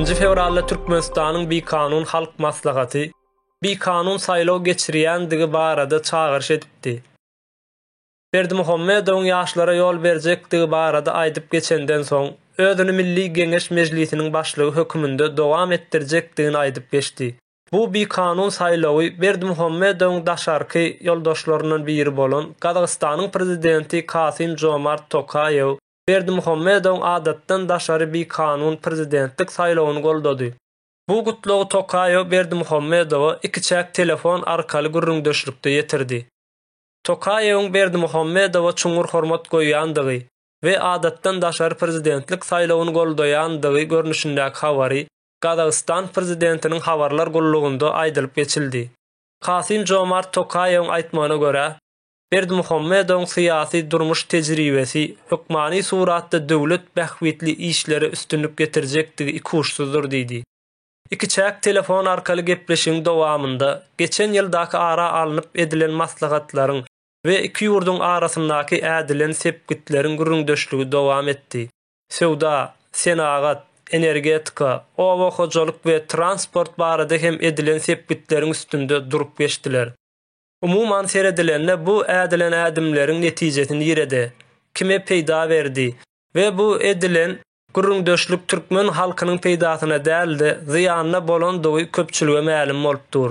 Nji fewralda Türkmenistanyň Bikanun halk maslahaty bikanun saýlaw geçirýändigi barada çagyryş edipdi. Berdimuhamedowyň ýaşlara ýol berjekdigi barada aýdyp geçenden soň, özüni Milli Geňeş Mejlisiniň başlygy höküminde dowam etdirjekdigini aýdyp geçdi. Bu bikanun saýlawy Berdimuhamedowyň daşarky ýoldaşlaryndan biri bolan Gazagystanyň prezidenti Kasym-Žomart Tokaýew Berdimuhamedowyň adatdan daşary bikanun prezidentlik saýlawyny goldady. Bu gutlagy Tokaýew Berdimuhamedowa ikiçäk telefon arkaly gürrüňdeşlikde ýetirdi. Tokaýewiň Berdimuhamedowa çuňňur hormat goýýandygy we adatdan daşary prezidentlik saýlawyny goldaýandygy görnüşindäki habary Gazagystan prezidentiniň habarlar gullugynda aýdylyp geçildi. Kasym-Žomart Tokaýewiň aýtmagyna görä, Berdimuhamedowyň syýasy, durmuş tejribesi hökmany suratda döwlet bähbitli işlere üstünlik getirjekdigi ikuçsyzdyr diýdi. Ikiçäk telefon arkaly gepleşigiň dowamynda geçen ýyldaky ara alnyp edilen maslahatlaryň we iki ýurduň arasyndaky ädilen sepgitleriň gürrüňdeşligi dowam etdi. Söwda, senagat, energetika, oba hojalyk we transport barada hem edilen sepgitleriň üstünde durup geçdiler. Umuman seredilende bu ädilen ädimleriň netijesi nirede, kime peýda berdi we bu edilen gürrüňdeşlik türkmen halkynyň peýdasyna däl-de zyýanyna bolandygy köpçülige mälim bolup dur.